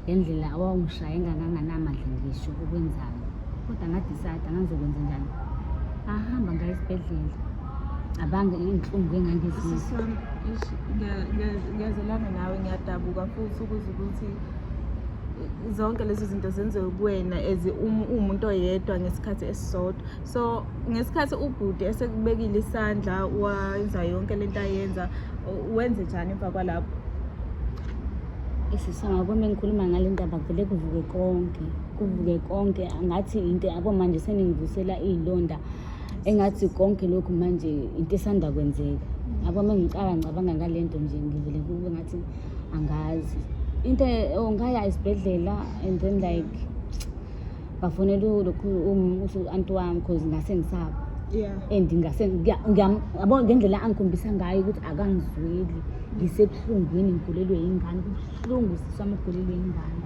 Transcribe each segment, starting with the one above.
ngendlela awawungishaya enganganganamandla ngisho ukwenzayo kodwa ngadisayida ngangizokwenza njani ahamba ngayo esibhedlela abange iy'nhlungu engangizizwa ngiyazelana nawe ngiyadabuka futhi ukuze ukuthi zonke lezi zinto zenziwe kuwena as um, uwumuntu oyedwa ngesikhathi esisodwa so ngesikhathi ubhuti esekubekile isandla wenza yonke le nto ayenza wenze njani emva kwalapho isisonga kwami engikhuluma ngale ndaba kuvele kuvuke konke kuvuke konke ngathi into yabo manje seningivusela iy'londa engathi konke lokhu manje into esanda kwenzeka yabo uma ngicala ngicabanga ngale nto nje ngivele kube ngathi angazi into ongaya oh, esibhedlela and then like bafonela lokhu u-anti wami cause ngase ngisaba yeah and ngase ngiya- ngiyam- yabo ngendlela angikhombisa ngayo ukuthi akangizweli ngisebuhlungwini ngigulelwe yingane kubuhlungu sisi wami ugulelwe yingane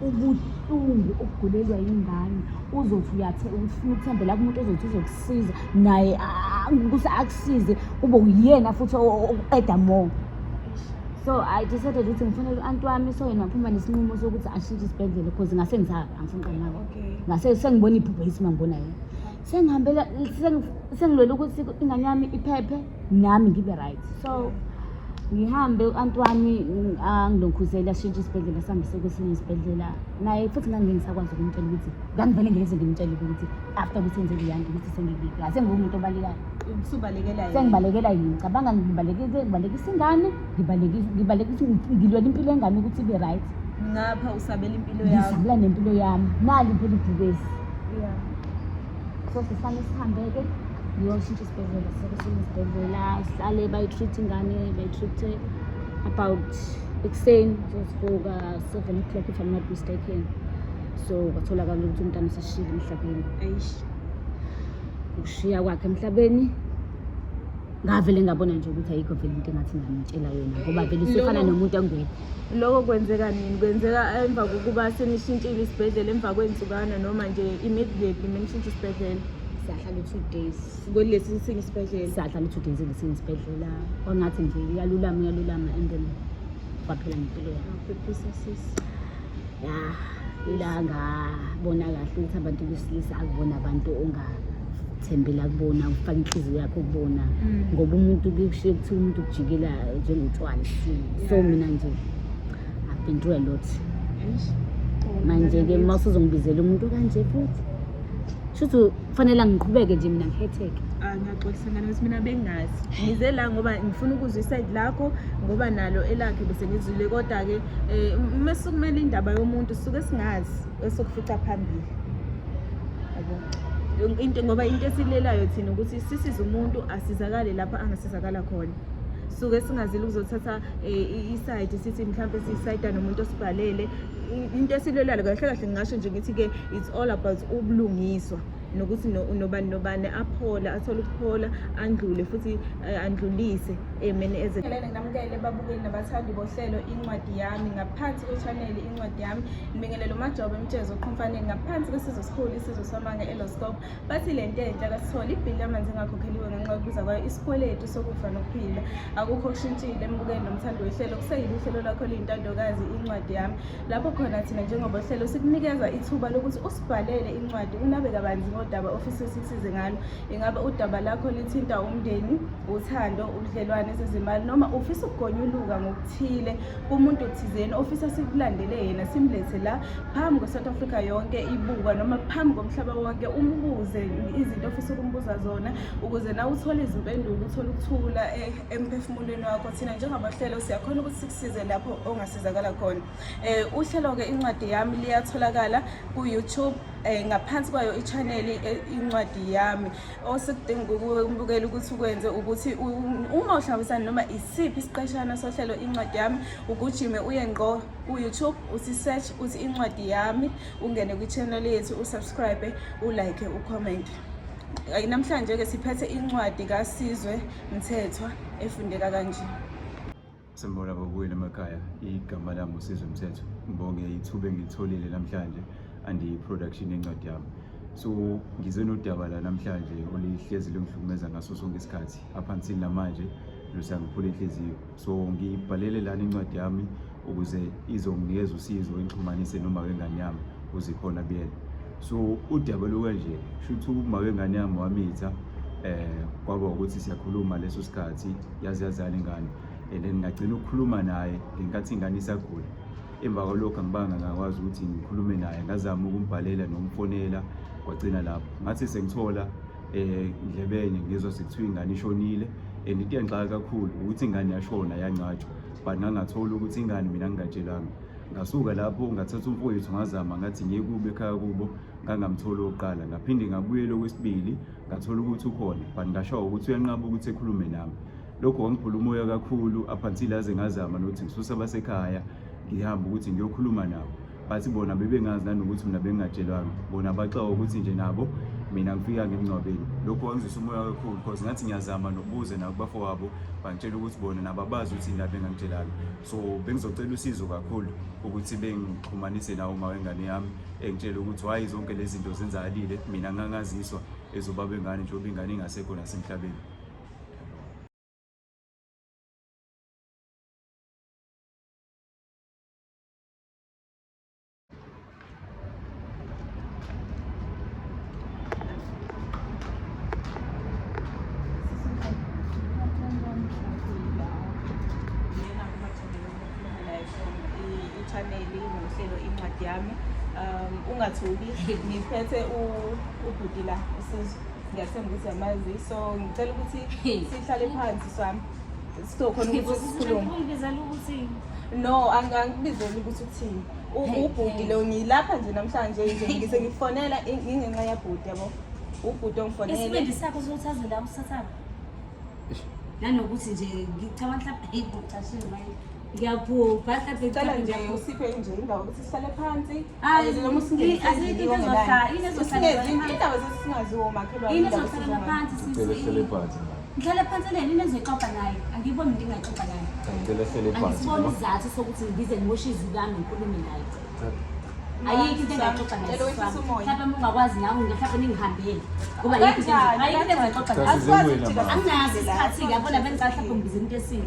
ubuhlungu ukugulelwa yingane uzothi uyathe ufuna ukuthembela kumuntu ozothi uzokusiza naye ah, kuthi akusize kube uyena futhi o- o- oqeda more so i decided ukuthi ngifanele u-anti wami so yena phuma nesinqumo sokuthi ashintshe isibhedlela because ngase ngizaka angifuni qala nako Okay. ngase sengibona iphupho yithi mangibona yena sengihambela sengi- sengilwela ukuthi ingane yami iphephe nami ngibe right so ngihambe u-anti wami ng- angilokhuzele ashintshe isibhedlela sihambise kwesinye isibhedlela naye futhi ngangingisakwazi ukumtshela ukuthi ngangivele ngileze ngimtshele ukuthi after ukuthi enzele yanto ukuthi sengingase ngiwumuntu obalekayo Usubalekela Sengibalekela yini? Cabanga ngibalekise ngibalekisa ingane, ngibalekisa ngibalekisa ngilwela impilo yengane ukuthi ibe right. Ngapha usabela impilo yakho. Ngisabela nempilo yami. Nali phela ibhubesi. Yeah. So sifanele sihambe-ke ngiyoshintsha isibhedlela sekushintsha isibhedlela sihlale bayi-treat ingane bayi-treat-e about ekuseni sesivuka seven o'clock if i'm not mistaken so kwatholakala ukuthi umntana useshile emhlabeni Eish. ukushiya kwakhe emhlabeni ngavele ngabona nje ukuthi ayikho vele into engathi ngamtshela yona ngoba vele usefana nomuntu angekho loko kwenzeka nini kwenzeka emva kokuba senishintshile isibhedlela emva kwey'nsukana noma nje immediately menishintshe isibhedlela sahlala u-two days kwelesi sinye isibhedlela sahlala u-two days elesinye isibhedlela kwangathi nje uyalulama uyalulama and then kwaphela ngempilo yakho phephisa sisi ya ila ngabona kahle ukuthi abantu besilisa akubona abantu ongathembela kubona ufake inhliziyo yakho kubona mm. ngoba umuntu kushiye kuthiwa umuntu kujikela njengotshwala so mina nje i've been through a lot manje-ke uma usuzongibizela umuntu kanje futhi shuthi kufanele ngiqhubeke nje mina ngihetheke ah, ngiyaxolisa ngane ukuthi mina bengazi ngize la ngoba ngifuna ukuzwa isayidi lakho ngoba nalo elakhe bese ngizwile kodwa-ke um uma sukumele indaba yomuntu suke singazi esokufica phambili into ngoba into esilelayo thina ukuthi sisize umuntu asizakale lapho angasizakala khona suke singazile ukuzothatha eh, isayidi sithi mhlawumbe siyisayida nomuntu osibhalele into esilwelayo kahle kahle ngingasho nje ngithi-ke it's all about ubulungiswa nokuthi nobani nobani aphole athole ukuphola andlule futhi eh, andlulise emeni eh, ezelele nginamukele babukeli nabathandi bohlelo incwadi yami ngaphansi kwechaneli incwadi yami ngibingelele umajobe mtshezo oqhumfaneni ngaphansi kwesizwe sikhulu isizwe samanga eloscope Bathi le nto entsha kasithole ibhili lamanzi engakhokheliwe ngenxa yokubiza kwayo isikweletu sokufa nokuphila. Akukho okushintshile embukeni nomthando wehlelo kuseyile uhlelo lwakho luyintandokazi incwadi yami. Lapho khona thina njengoba uhlelo sikunikeza ithuba lokuthi usibhalele incwadi unabe kabanzi ngodaba ofisa sisize ngalo. Ingabe udaba lakho lithinta umndeni, uthando, ubudlelwane zezimali noma ufisa ukugonyuluka ngokuthile kumuntu thizeni ofisa sikulandele yena simlethe la phambi kwe-south africa yonke ibuka noma phambi komhlaba wonke umbuze izinto ofisa ukumbuza zona ukuze nawe uthole izimpendulo uthole ukuthula eh, emphefumulweni wakho thina njengabahlelo siyakhona ukuthi sikusize lapho ongasizakala khona um uhlelo-ke incwadi yami liyatholakala ku-youtube eh ngaphansi kwayo i-channel eh, incwadi yami osekudinga ukubukela ukuthi ukwenze ukuthi uma uhlangabisana noma isiphi isiqeshana sohlelo incwadi yami ugujime uye ngqo ku-youtube uthi search uthi incwadi yami ungene kwi-channel yethu usubscribe ulike ucommente namhlanje-ke siphethe incwadi kasizwe mthethwa efundeka kanje sembona bobuyela emakhaya igama lami usizwe mthetho ngibonge ithuba engilitholile namhlanje andiyi-production yencwadi yami so ngize nodaba la namhlanje olihlezi lungihlukumeza ngaso sonke isikhathi aphansini namanje lusangiphula inhliziyo so ngiyibhalele lana incwadi yami ukuze izonginikeza usizo engixhumanise noma wengane yami uzikhona buyena so udaba lokanje shuthi uma wengane yami wamitha eh kwaba ukuthi siyakhuluma leso sikhathi yazi yazani ingane and then ngagcina ukukhuluma naye ngenkathi ingane isagula emva kwalokho angibanga ngakwazi ukuthi ngikhulume naye ngazama ukumbhalela nomfonela kwagcina lapho ngathi sengithola endlebeni eh, ngizwa sekuthiwa ingane ishonile and into engixaka kakhulu ukuthi ingane yashona yancatshwa but ngangathola ukuthi ingane mina ngingatshelanga ngasuka lapho ngathatha umfowethu ngazama ngathi ngiye kubo ekhaya kubo ngangamtholi okokuqala ngaphinde ngabuyela okwesibili ngathola ukuthi ukhona but ngashawa ukuthi uyanqaba ukuthi ekhulume nami lokho kwangiphula umoya kakhulu up until aze ngazama nokuthi ngisuse abasekhaya ngihamba ukuthi ngiyokhuluma nabo bathi bona bebengazi nanokuthi mina bengingatshelwanga bona baxawa ukuthi nje nabo mina ngifika ngemngcwabeni lokhu kwangizwisa umoya kakhulu because ngathi ngiyazama nokubuze nakubafo wabo bangitshela ukuthi bona nabo abazi ukuthi yini la bengangitshelanga so bengizocela usizo kakhulu ukuthi bengixhumanise nawo uma wengane yami engitshele ukuthi hhayi zonke lezi zinto zenzakalile mina ngangaziswa ezobaba engane njengoba ingane ingasekho nasemhlabeni chaneli ngohlelo incwadi yami um ungathuki ngiphethe ubhuti la usizo ngiyathemba ukuthi yamazi so ngicela ukuthi sihlale phansi swami sizokhona ukuthi sikhulume no angangibizeli ukuthi uthini ubhuti lo ngilapha nje namhlanje nje ngise ngifonela ngingenxa yabhuti yabo ubhuti ongifonele isibindi sakho sokuthazela usathana nanokuthi nje ngicabanga mhlawumbe hey ngicashile manje ngiyaphupha mhlawumbe ngicela nje usiphe nje indawo ukuthi sihlale phansi ngihlale phansi leni inezoyixoxa naye angiyiboni into engayixoxa naye angisiboni isizathu sokuthi ngize ngoshe izwi lami ngikhulume naye ayikho into engaxoxa mhlawumbe mungakwazi nawe mhlawumbe ningihambele ngoba ayikho into engaxoxa anginazi isikhathi-ke yabona bengisahlaphe ngibiza into esile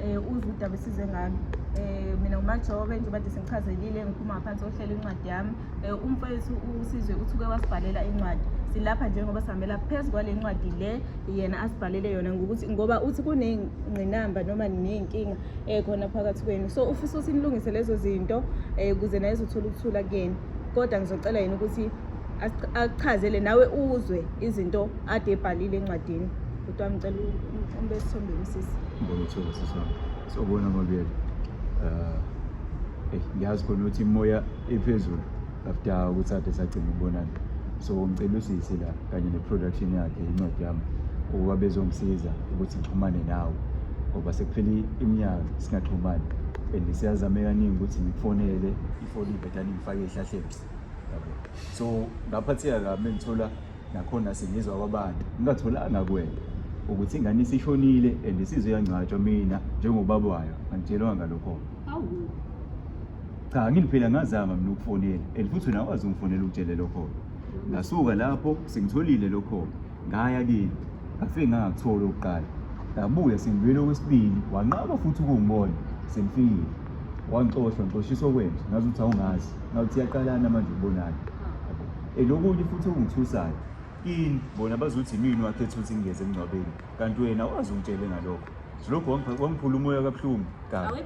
um uze udaba esize ngalo um mina umajobe njengoba de sengichazelile ngiphuma ngaphansi kohlelo incwadi yami um umfowethu usizwe uthi uke wasibhalela incwadi silapha njengoba sihambela phezu kwale ncwadi le yena asibhalele yona ngokuthi ngoba uthi kunengqinamba noma ney'nkinga um khona phakathi kwenu so ufisa ukuthi nilungise lezo zinto um ukuze naye zothola ukuthula kuyena kodwa ngizocela yena ukuthi akuchazele nawe uzwe izinto ade ebhalile encwadini Kodwa ngicela ube sithombeni sisi. Ngibona ukuthola sisi wami. Sobona mabiyela. Eh eh ngiyazi khona ukuthi imoya ephezulu after ukuthi ade sagcina ukubonana. So ngicela usisi la kanye neproduction yakhe incwadi yami ukuba bezongisiza ukuthi ngixhumane nawe ngoba sekuphele iminyaka singaxhumani and siyazame kaningi ukuthi ngifonele ifoni ibhetani ngifake ehlahleni yabo so ngaphatheka kabi mengithola nakhona sengizwa kwabantu ngingatholanga kwena ukuthi ingane isishonile and isizwe yangcwatshwa mina njengobaba wayo angitshelwanga lokho awu cha ngini phela ngazama mina ukufonela and futhi wena wazi ungifonela ukutshele lokho ngasuka lapho sengitholile lokho ngaya kini ngafike ngangakuthola ukuqala ngabuya sengibuyele okwesibili wanqaba futhi ukungibona sengifikile wangixosha ngixoshiswa kwenje ngazi ukuthi awungazi ngathi iyaqalana manje ubonayo and okunye futhi okungithusayo ini bona bazothi yimini wakhetha ukuthi ngingeze emngcwabeni kanti wena wazi ungitshele ngalokho lokho wangiphula umoya kabuhlungu kabi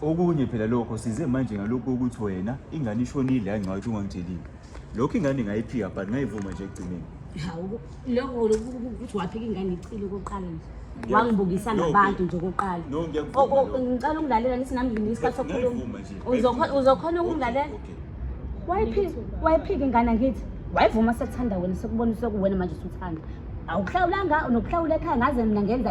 okunye phela lokho size manje ngalokhu ukuthi wena ingane ishonile yangcwathi ungangitshelile lokho ingane ngayiphika but ngayivuma nje ekugcineni Lokho ukuthi waphika ingane icile koqala nje. wangibukisa nabantu nje okokuqala ngicela ukungilalela nithi nami ngimile isikhathi sokukhuluma uzokhona ukungilalela wayiphika ingane ngithi wayivuma sekuthanda wena sekubona sekuwena manje usuthanda awuhlawulanga nokuhlawula ekhaya ngaze mina ngenza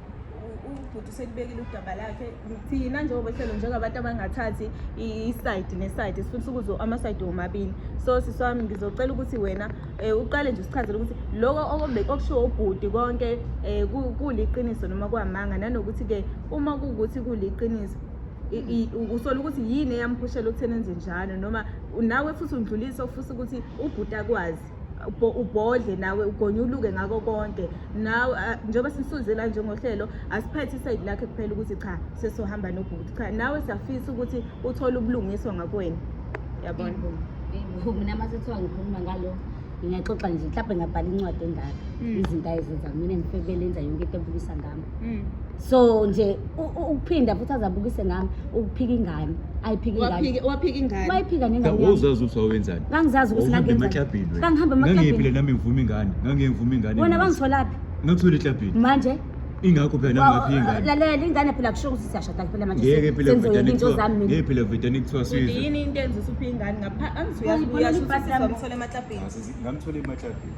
ubhuti uselibekile udaba lakhe thina njengobehlelo njengabantu abangathathi isayidi nesayidi sifuna ukuzo amasayidi womabili so sisi wami ngizocela ukuthi wena um uqale nje usichazele ukuthi loko okushiwo ubhuti konke um kuliqiniso noma kwamanga nanokuthi-ke uma kuwukuthi kuliqiniso usola ukuthi yini eyamuphushela ukutheni enze njalo noma nawe futhi undlulise ofisa ukuthi ubhuti akwazi ubhodle nawe ugonyuluke ngako konke nawe njengoba sisuzela nje ngohlelo asiphethe isayidi lakhe kuphela ukuthi cha sesohamba nobhuti cha nawe siyafisa ukuthi uthole ubulungiswa ngakwena yabona mina uma sethiwa ngikhuluma ngalo ngingaxoxa nje mhlawumbe ngabhala incwadi engaka mm. izinto ayezenza mina ngifebe lenza yonke into ebukisa ngami Mm. so nje u- u- ukuphinda futhi azabukise ngami ukuphika ingane ayiphika ingane Waphike waphike ingane. wayiphika nengane yami. Wawuzazi ukuthi wawenzani. ngangizazi ukuthi Wawuhambe ngangenzani. emaklabhini wena. Ngangihamba Ngangiyephi emaklabhini. le nami ngivuma ingane. Ngangiyengivuma ingane. wena mina. bangitholaphi Ngakuthola eklabhini. manje Ingakho phela nami ngaphi ingane. lalela ingane phela kusho ukuthi siyashada phela manje Ngeke phela senzoyeka vedane into kuthiwa. zami mina Ngeke phela vedane kuthiwa Uthi sizwe. yini into enza usuphi ingane ngapha angithi Ngibona uyasho ibhasi ukuthi lami. uzomthola emaklabhini. Ngamthola emaklabhini.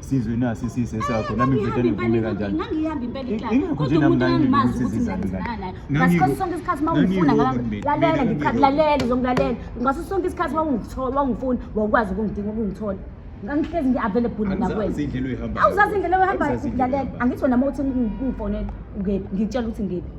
sizwe nasi sise sakho nami ngiveda nivume kanjani ngangihambi impela iklasi ingakho nje nami ngangimazi ukuthi ngizanizana ngasikhathi sonke isikhathi uma ungifuna lalela ngikhathi lalela uzongilalela ngaso sonke isikhathi uma ungithola uma ungifuna wawukwazi ukungidinga ukungithola ngangihlezi ngi-available nakwenzauzazi indlela oyihambayo lalela angithi wena uma uthi ungifonela ngiphi ngitshela ukuthi ngiphi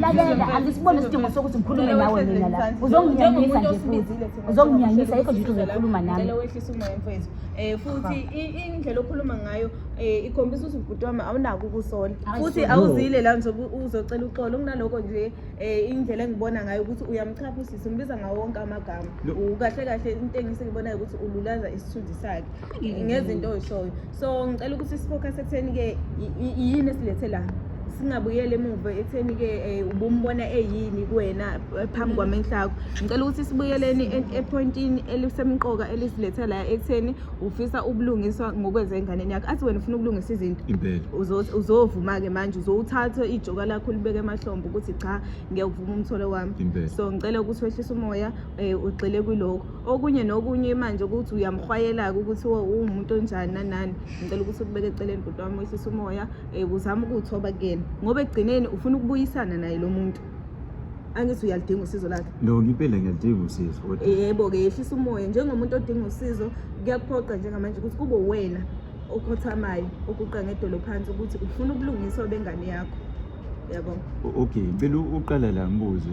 lalela angisiboni isidingo sokuthi ngikhulume nawe mina la uzonginyanyisa nje futhi uzonginyanyisa yikho nje ukuthi uzokhuluma nami um futhi indlela okhuluma ngayo um ikhombisa ukuthi ubhuti wami awunako ukusola futhi awuzile la nje uzocela uxolo kunaloko nje um indlela engibona ngayo ukuthi uyamchapha usisi umbiza ngawo wonke amagama kahle kahle into engise ngibonayo ukuthi ululaza isithunzi sakhe ngezinto oyishoyo so ngicela ukuthi sifocus ekutheni-ke yini esilethe la singabuyeli emuva ekutheni-ke um ubumbona eyini kuwena eh, phambi mm. kwamenhla akho ngicela ukuthi sibuyeleni ephoyintini elisemqoka elisilethe la ekutheni ufisa ubulungiswa ngokwenza enganeni yakho athi wena ufuna ukulungisa izinto uzovuma-ke manje uzowuthatha ijoka lakho ulibeke emahlombo ukuthi cha ngiyakuvuma umtholo wami so ngicela ukuthi wehlise umoya um ugxile kwilokho okunye nokunye manje ukuthi uyamhwayela-ke ukuthi uwumuntu onjani nanani ngicela ukuthi ukubeke eceleni bhuti wami wehlisa umoya um uzame ukuwuthoba kuyena ngoba ekugcineni ufuna ukubuyisana naye lo muntu angithi uyalidinga usizo lakhe no ngipele ngiyalidinga usizo yebo-ke yehlisa umoya njengomuntu odinga usizo kuyakuphoqa njengamanje ukuthi kube wena okhothamayo okuqa ngedolo phansi ukuthi ufuna ubulungiswa bengane yakho yabo okay ngicela uqala la ngibuze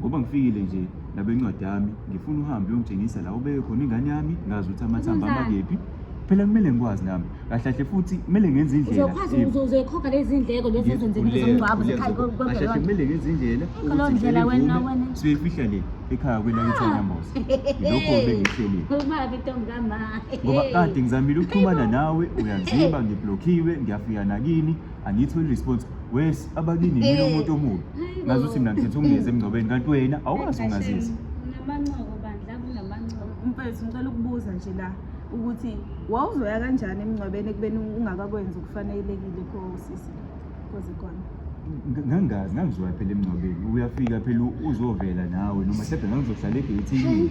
ngoba ngifikile nje nabe incwadi yami ngifuna uhambe uyongitshengisa la ubeke khona ingane yami ngazi ukuthi amathambo Uzenzani? amakephi phela kumele ngikwazi nami kahle kahle futhi kumele ngenze indlela uzokwazi Eh, uzo- uzoyikhokha lezi ndleko lezi ngithi ezenzekile kulezi- zomngcwabo kulezi- zekhaya kahle kahle kwemvelonto kumele ngenze indlela Yikho ukuthi leyo ndlela ngicele wena- imvume, wena. siyifihla le ekhaya kwelakithi Ah. anamboza yilokho bengihlelile ubabi ntombi kamama ngoba kade ngizamile ukuxhumana nawe uyangiziba ngiblokhiwe ngiyafika nakini angithi wena response wes abakini yini Eh. umuntu omubi Hayi ngazi bo. ukuthi mina ngikhetha ukungezi emngcwabeni kanti wena awukwazi ukungazisa Unamancoko bandla kunamancoko. mfethu ngicela ukubuza nje la ukuthi wawuzoya kanjani emngcwabeni ekubeni ungakakwenzi okufanelekile kosisi koze kona Ng- ngangazi ngangizoya phela emngcwabeni uyafika phela u- uzovela nawe noma hlephe ngangizohlala egeyithini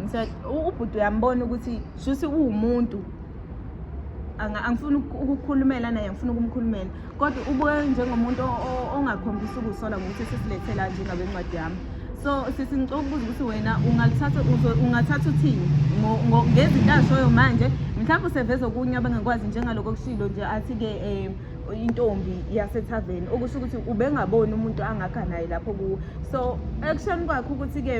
ngise ubhuti uyambona ukuthi shuthi uwumuntu angifuni ukukhulumela naye ngifuna ukumkhulumela kodwa ubuke njengomuntu ongakhombisa ukusola ngokuthi sesilethela nje ngabe incwadi yami so sisi ngicela ukubuza ukuthi wena ungalithatha ungathatha uthini ngezinto azishoyo manje mhlawumbe useveza okunye abangakwazi njengaloko okushilo nje athi-ke um intombi yasethaveni okusho ukuthi ubengaboni umuntu angakha naye lapho kuwo so ekushoni kwakhe ukuthi-ke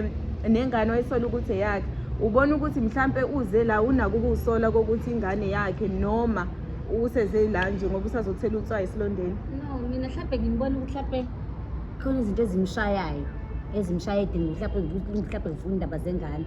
nengane oyisola ukuthi eyakhe ubona ukuthi mhlampe uze la unako ukuwusola kokuthi ingane yakhe noma useze la nje ngoba usazothela utswayi esilondeni no mina mhlampe ngimbona ukuthi mhlampe khona izinto ezimshayayo ezimshaye edingo mhlawumbe mhlawumbe ngifuna indaba zengane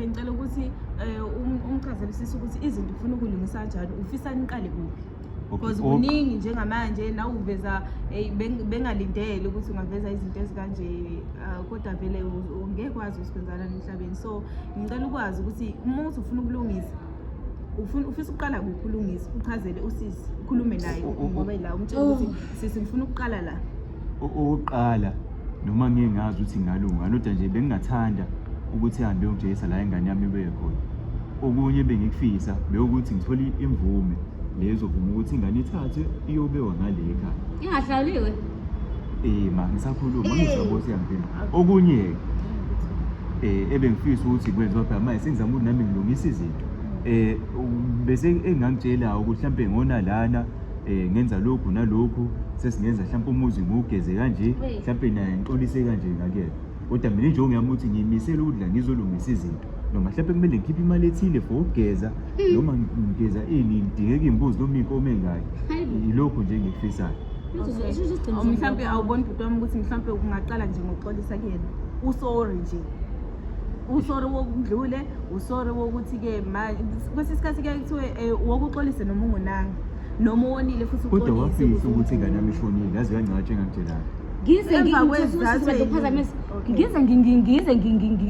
ngicela ukuthi eh, um- umchazelisise ukuthi izinto ufuna ukulungisa kanjani ufisa niqale kuphi because Okay, ok. kuningi njengamanje nawe uveza eh, beng- bengalindele ukuthi ungaveza izinto ezikanje ah, kodwa vele u- u- ngeke kwazi usikwenzana emhlabeni so ngicela ukwazi ukuthi uma uthi ufuna ukulungisa ufuna- ufisa ukuqala kuphi ulungisa uchazele usisi ukhulume naye U- u- u- ngoba ila umtshela ukuthi sisi ngifuna ukuqala la okokuqala noma ngeke ngazi ukuthi ngalunga kodwa nje bengingathanda ukuthi hambe yongijeyisa la ingane yami ibuye khona okunye bengikufisa bewukuthi ngithole imvume lezovuma ukuthi ingane ithathwe iyobewa ngale ekhaya ingahlawuliwe eh ma ngisakhuluma ngizobona ukuthi yangena okunye eh ebengifisa ukuthi kwenziwa phela manje sengizama ukuthi nami ngilungise izinto eh bese engangitshela ukuthi mhlambe ngona lana eh ngenza lokhu nalokhu sesingenza mhlawumbe umuzi ngugeze kanje mhlawumbe naye ngixolise kanje ngakuyena kodwa mina nje ongiyami ukuthi ngiyimisele ukudla ngizolungisa izinto noma mhlawumbe kumele ngikhiphe imali ethile for ukugeza hmm. noma ngigeza ini ngidingeka iy'mbuzi noma iy'nkomo ey'ngaki yilokhu nje engikufisayo mhlawumbe awuboni bhuti wami ukuthi mhlawumbe ungaqala nje ngokuxolisa kuyena usorry nje usori wokudlule usori wokuthi-ke kwesinye isikhathi kuyaye kuthiwe um eh, wokuxolise noma ungonanga noma uwonile futhi kodwa wafisa ukuthi ingane yami ishonile yaze yancatshe engangitshelanga ngize ngiphazamisa ngize ngize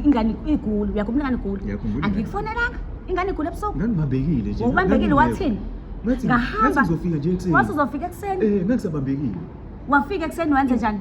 ingane iguli uyakhumbula ingane iguli angikufonelanga ingane iguli ebusuku ngangibambekile nje ubambekile wathini ngahamba ngizofika nje ekuseni wase uzofika ekuseni eh ngisabambekile wafika ekuseni wenze njani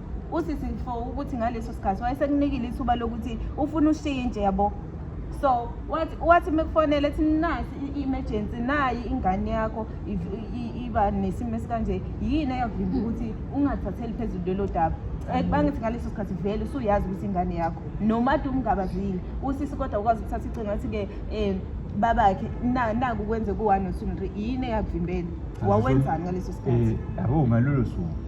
usisi mfo ukuthi ngaleso sikhathi wayesekunikile ithuba lokuthi ufuna ushintshe yabo so wathi wathi mekufonele ethi nasi i-emergency nayi ingane yakho iba nesimo esikanje yini eyavimba ukuthi ungathatheli phezulu lelo daba eh, bangithi ngaleso sikhathi vele usuyazi ukuthi ingane yakho noma ade umngabazile usisi kodwa ukwazi ukuthatha icinga athi-ke um babakhe naku kwenze ku-one or two yini eyakuvimbela wawenzani ngaleso sikhathi eh, yabo ngalolo suku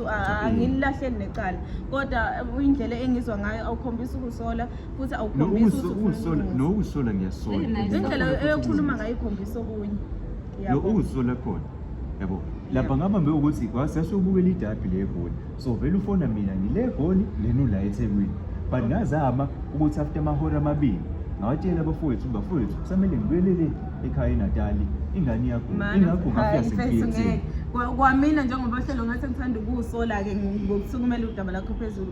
angililahleli necala kodwa indlela engizwa ngayo awukhombisi ukusola futhi awukhombisi nokusola ngiyasola indlela eyokhuluma ngayo ikhombisa okunye lo ukusola khona yabo lapha ngabambe ukuthi sasiyobukela idabi legoli so vele ufona mina ngile goli lenu la ethekwini but ngazama ukuthi after amahora amabili ngawatshela abafowethu bafowethu kusamele ngibuyelele ekhaya enatali ingane iyagula ingagula kuyasifethi kwamina njengoba hlelo ngathi ngithanda ukuwusola-ke ngokusukumela udaba lakho phezulu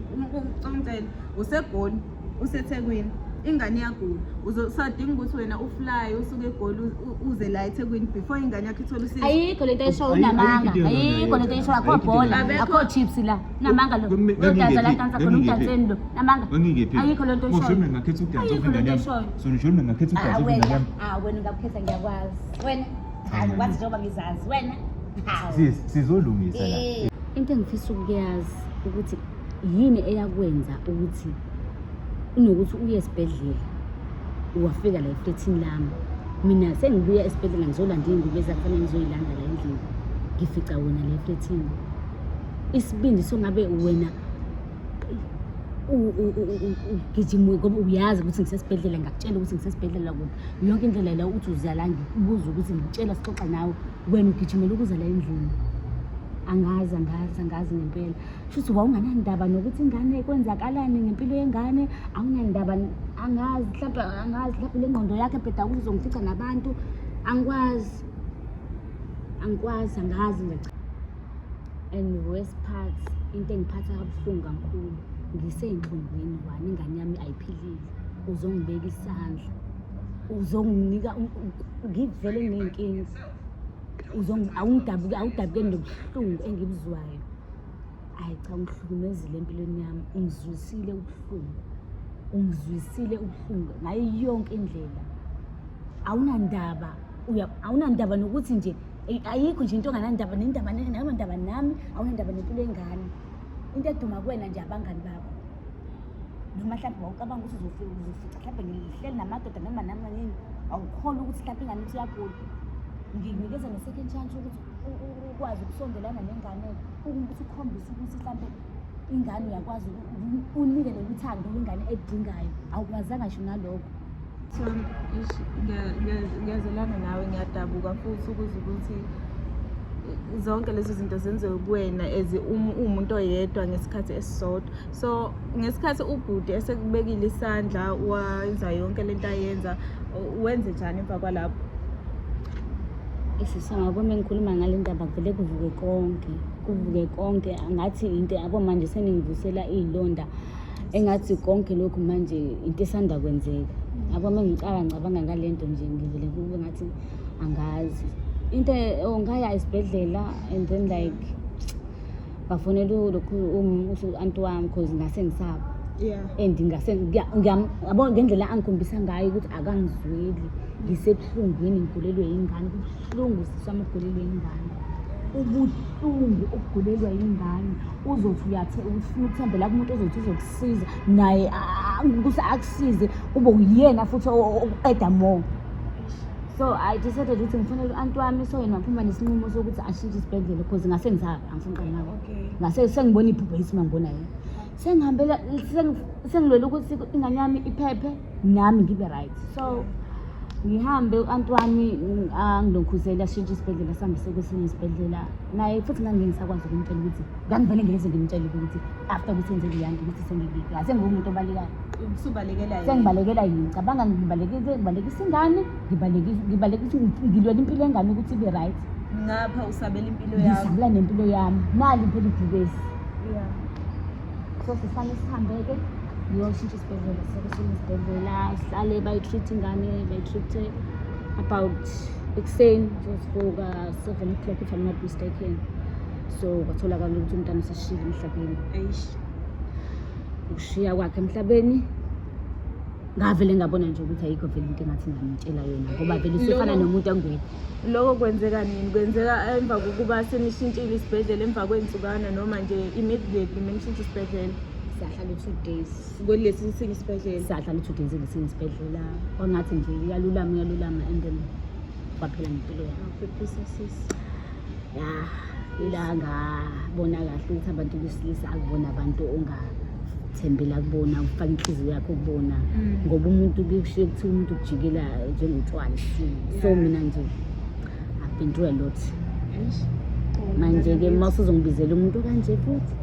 ucomcela usegoli usethekwini ingane iyagula usadinga ukuthi wena ufly usuke egoli uze la ethekwini before ingane yakho ithole usizo ayikho lento esho unamanga ayikho lento esho akho bhola akho chips la namanga lo udansa la dansa khona udanseni lo namanga ayikho lento esho ngingekephi ngakhetha ukudansa ingane yami So nisho mina ngakhetha Ah, ubhazi wena kunakami. ah, wena ungakukhetha ngiyakwazi wena hayi Mm. kwazi njengoba ngizazi wena hawu Sis, sizolungisa la. Eh. into engifisa ukuyazi ukuthi yini eyakwenza ukuthi unokuthi uye esibhedlela wafika la eflethini lami mina sengibuya esibhedlela ngizolanda iy'ngubo ezakufanele ngizoyilanda la endlini ngifica wena la eflethini isibindi songabe wena ugijima ngoba uyazi ukuthi ngisesibhedlela ngakutshela ukuthi ngisesibhedlela kubi yonke indlela la uthi uza la ngikubuza ukuthi ngitshela sixoxa nawe wena ugijimela ukuza la endlini angazi angazi angazi ngempela shuthi wawunganandaba nokuthi ingane kwenzakalani ngempilo yengane awunandaba angazi mhlawumbe angazi mhlawumbe le ngqondo yakhe bheda ukuthi uzongifica nabantu angikwazi angikwazi angazi nje and worst part into engiphatha kabuhlungu kakhulu ngiseyinhlungwini wani ingane yami ayiphilile uzongibeka isandla uzonginika ngivele nginenkinga awungidabuke awudabuke nobuhlungu engibuzwayo ayi cha ungihlukumezile empilweni yami ungizwisile ubuhlungu ungizwisile ubuhlungu ngayo yonke indlela awunandaba awunandaba nokuthi nje Eh, ayikho nje into onganandaba nendaba nangendaba nami awunendaba nempilo engane into eduma kuwena nje abangani bakho noma mhlawumbe wawucabanga ukuthi uzofica mhlawumbe ngihleli namadoda noma noma nini awukhona ukuthi mhlawumbe ingane ithi uyagula ngikunikeza ne-second chance ukuthi ukwazi ukusondelana nengane ukuthi ukhombise ukuthi mhlawumbe ingane uyakwazi unike lolu thando ingane edingayo awukwazanga sho nalokho so ngiyazelana nawe ngiyadabuka futhi ukuze ukuthi zonke lezo zinto zenziwe kuwena as um, umuntu oyedwa ngesikhathi esisodwa so ngesikhathi ubhuti esekubekile isandla wenza yonke le nto ayenza wenze njani emva kwalapho isisangakumi engikhuluma ngale ndaba kuvele kuvuke konke kuvuke konke angathi into yabo manje seningivusela iy'londa engathi konke lokhu manje into esanda kwenzeka yabo uma ngicala ngicabanga ngale nto nje ngivele kube ngathi angazi into oh, ngaya esibhedlela and then like bafonela lokhu um, u-anti wami because ngase ngisaba and ngase yabo ngendlela angikhombisa ngayo ukuthi akangizweli ngisebuhlungwini ngigulelwe yingane Ubuhlungu sisami ugulelwe ingane. Ubuhlungu ukugulelwa ingane. Uzothi uyathe ufuna ukuthembela kumuntu ozothi uzokusiza naye ah, ukuthi akusize kube uyena futhi o- o- oqeda more. So I decided ukuthi ngifuna u-anti wami so yena waphuma nesinqumo sokuthi ashintshe isibhedlela because ngase ngizaba angifuni uqale nabo. Okay. ngase sengibona iphupho yisima ngibona yena sengihambela sengi- sengilwela ukuthi ingane yami iphephe nami ngibe right so ngihambe u-anti wami mm, angilokhuzeli ashintshe isibhedlela sihambise kwesinye isibhedlela naye futhi ngangike ngisakwazi ukumtshela ukuthi ngangivele ngileze ngimtshele ukuthi after ukuthi enze leyanto ukuthi sengibika sengiwumuntu obalekayo usubalekela yena sengibalekela yini ngicabanga ngibalekile ngibalekisa ingane ngibalekisa ngibalekisa ngilwela impilo yengane ukuthi ibe right ngapha usabela impilo yakho ngisabela nempilo yami nali impela ibhubesi yeah so sifane sihambe-ke ngiyoshintsha isibhedlela sekusinesibhedlela sihlale bayi-treat ingane bayi-treat-e about ekuseni sesivuka seven o'clock if i'm not mistaken so kwatholakala ukuthi umntana seshile emhlabeni eish ukushiya kwakhe emhlabeni ngavele ngabona nje ukuthi ayikho vele into engathi ngamtshela yona ngoba vele usefana Loko- nomuntu angwedwa loko kwenzeka nini kwenzeka emva kokuba senishintshile isibhedlela emva kwey'nsukana noma nje immediately menishintshe isibhedlela siyahlala u-two days kulesi sinye isibhedlela siyahlala u-two days ngesinye isibhedlela kwangathi nje uyalulama uyalulama and then kwaphela ngempilo yakho phephisa sisi ya ila ngabona kahle ukuthi abantu besilisa akubona abantu ongathembela kubona ufaka inhliziyo yakho kubona Mm. ngoba umuntu kushiye kuthiwa umuntu ukujikela njengotshwala so Yeah. mina nje i've been through a lot Eish. manje-ke uma usuzongibizela umuntu kanje futhi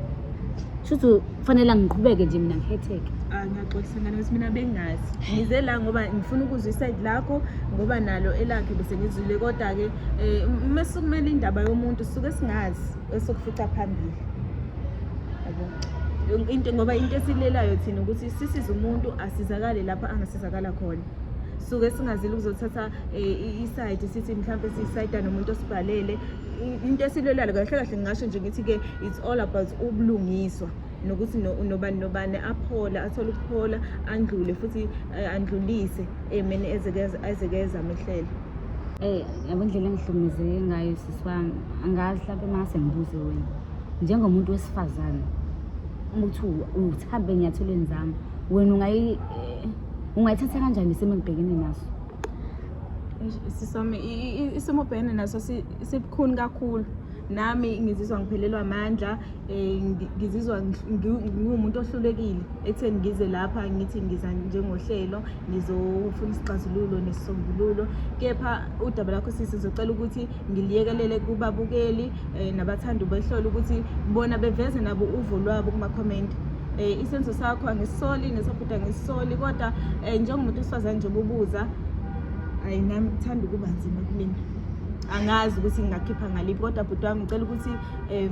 shuthi kufanele ngiqhubeke nje mina ngihetheke ah, ngiyaxolisa ngane ukuthi mina bengazi ngize la ngoba ngifuna ukuzwa isayidi lakho ngoba nalo elakhe bese ngizwile kodwa-ke um uma sukumele indaba yomuntu suke singazi esokufica phambili into ngoba into esilelayo thina ukuthi sisize umuntu asizakale lapho angasizakala khona suke singazile ukuzothatha um isayidi sithi mhlawumpe siyisayida nomuntu osibhalele into esilwelayo kahle kahle ngingasho nje ngithi-ke it's all about ubulungiswa nokuthi nobani nobani aphole athole ukuphola andlule futhi eh, andlulise emeni ezekeza amehlele Eh, yabo indlela engihlukumezeke ngayo sisi wami angazi mhlawumbe mase ngibuze wena njengomuntu wesifazane uma kuthi uthambe enyathelweni zami wena eh, ungayithatha kanjani isimo engibhekene naso sisome isimo bhene naso sibukhuni kakhulu nami ngizizwa ngiphelelwa amandla um ngizizwa ngiwumuntu ohlulekile ekutheni ngize lapha ngithi ngiza njengohlelo ngizofuna isixazululo nesisombululo kepha udaba lakho sisi ngizocela ukuthi ngiliyekelele kubabukeli um nabathanda ubehlola ukuthi bona beveze nabo uvo lwabo kumakhomenti eh isenzo sakho angisisoli nesabhuda angisisoli kodwa eh njengomuntu osifazane nje obubuza ayi nami kuthanda ukuba nzima kumina angazi ukuthi ngingakhipha ngaliphi kodwa bhuti wami ngicela ukuthi um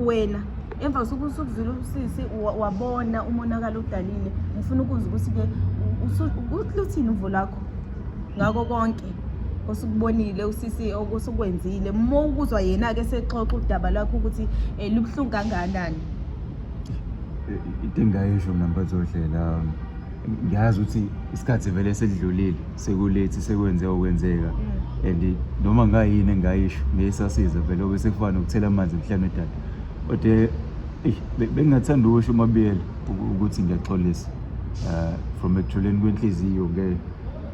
wena emva kosuku usukuzwile usisi wabona umonakalo udalile ngifuna ukuzwa ukuthi-ke luthini uvo lakho ngako konke osukubonile usisi okusukwenzile uma ukuzwa yena-ke sexoxa udaba lwakho ukuthi um lubuhlungu kangakanani into engayisho mna mphathozodlela um, ngiyazi ukuthi isikhathi vele sesidlulile sekulethi sekwenze okwenzeka mm. and noma ngayini engayisho ngeyisasiza vele obe sekufana nokuthela amanzi emhlane edada kodwa bengingathanda ukusho umabiyela ukuthi ngiyaxolisa uh, from ekujuleni kwenhliziyo ke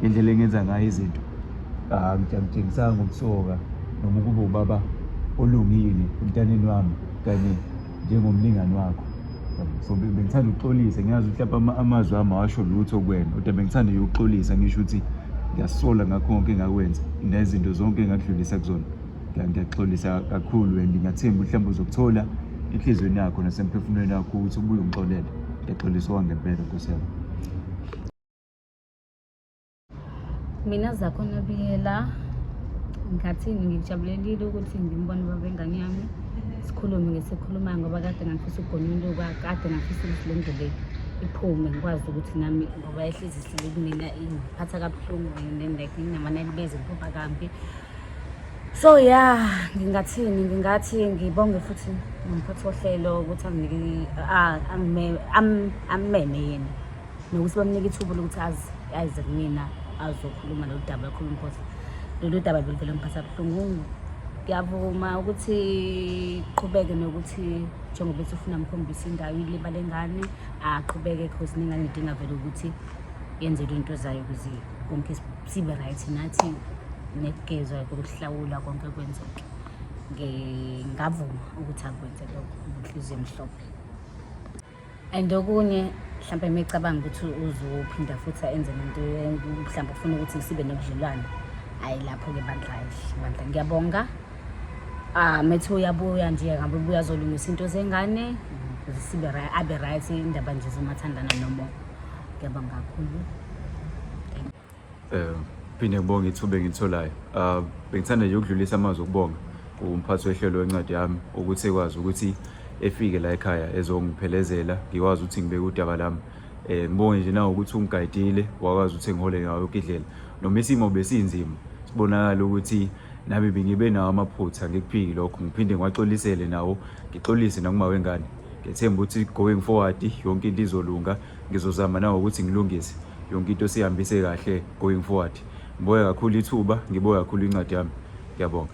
indlela engenza ngayo izinto ah, angitshangisanga ngokusoka noma ukuba ubaba olungile emntaneni wami kanye njengomlingani wakho so bengithanda ukuxolisa ngiyazi ukuthi lapha amazwi ami awasho lutho kwena kodwa bengithanda yokuxolisa ngisho ukuthi ngiyasola ngakho konke engakwenza nezinto zonke engakudlulisa kuzona ngiyaxolisa kakhulu and ngiyathemba mhlawumbe uzokuthola enhliziyweni yakho nasemphefumulweni yakho ukuthi ubuye ungixolele ngiyaxolisa owangempela nkosi yami mina zakho nabiyela ngathini ngijabulelile ukuthi ngimbone baba engane yami sikhulume ngesikhulumayo ngoba kade ngafisa ugonuluka kade ngafisa ukuthi le ndlela iphume ngikwazi ukuthi nami ngoba ehlezi sile kumina ingiphatha kabuhlungu and then like nginamana libeze ngiphupha kambi so ya ngingathini ngingathi ngibonge futhi nomphathi wohlelo ukuthi ammeme yena nokuthi bamnike ithuba lokuthi azi ayize kumina azokhuluma lolu daba akhuluma inkosi lolu daba beluvele mphatha buhlungu ngiyavuma ukuthi qhubeke nokuthi njengoba ethi ufuna mkhombisa indawo ilibale engane aqhubeke cause nengane idinga vele ukuthi yenzelwe into zayo ukuze konke sibe right nathi nekugezwa kokuhlawula konke kwenzeke ngingavuma ukuthi akwenze lokho ngenhliziyo emhlophe and okunye mhlawumbe mecabanga ukuthi uzophinda futhi enze lento mhlawumbe ufuna ukuthi sibe nobudlelwane hhayi lapho-ke bandla bandla ngiyabonga um ah, methi uyabuya nje ngabe ubuya zolungisa into zengane sibe abe right indaba nje zomathandana nomoya Ngiyabonga kakhulu. Eh phinde ngibonge ithuba engitholayo. Ah bengithanda nje ukudlulisa amazwi okubonga kumphathi wehlelo wencwadi yami ukuthi ekwazi ukuthi efike la ekhaya ezongiphelezela ngikwazi ukuthi ngibeke udaba lami eh ngibonge nje nawo ukuthi ungigayidile wakwazi ukuthi ngihole ngayo ukidlela noma isimo besinzima sibonakala ukuthi nami bengibe nawo amaphutha ngikuphiki lokho ngiphinde ngiwaxolisele nawo ngixolise nakuma wengane ngethemba ukuthi going forward yonke into izolunga ngizozama nawo ukuthi ngilungise yonke into sihambise kahle going forward ngiboya kakhulu ithuba ngiboya kakhulu incwadi yami ngiyabonga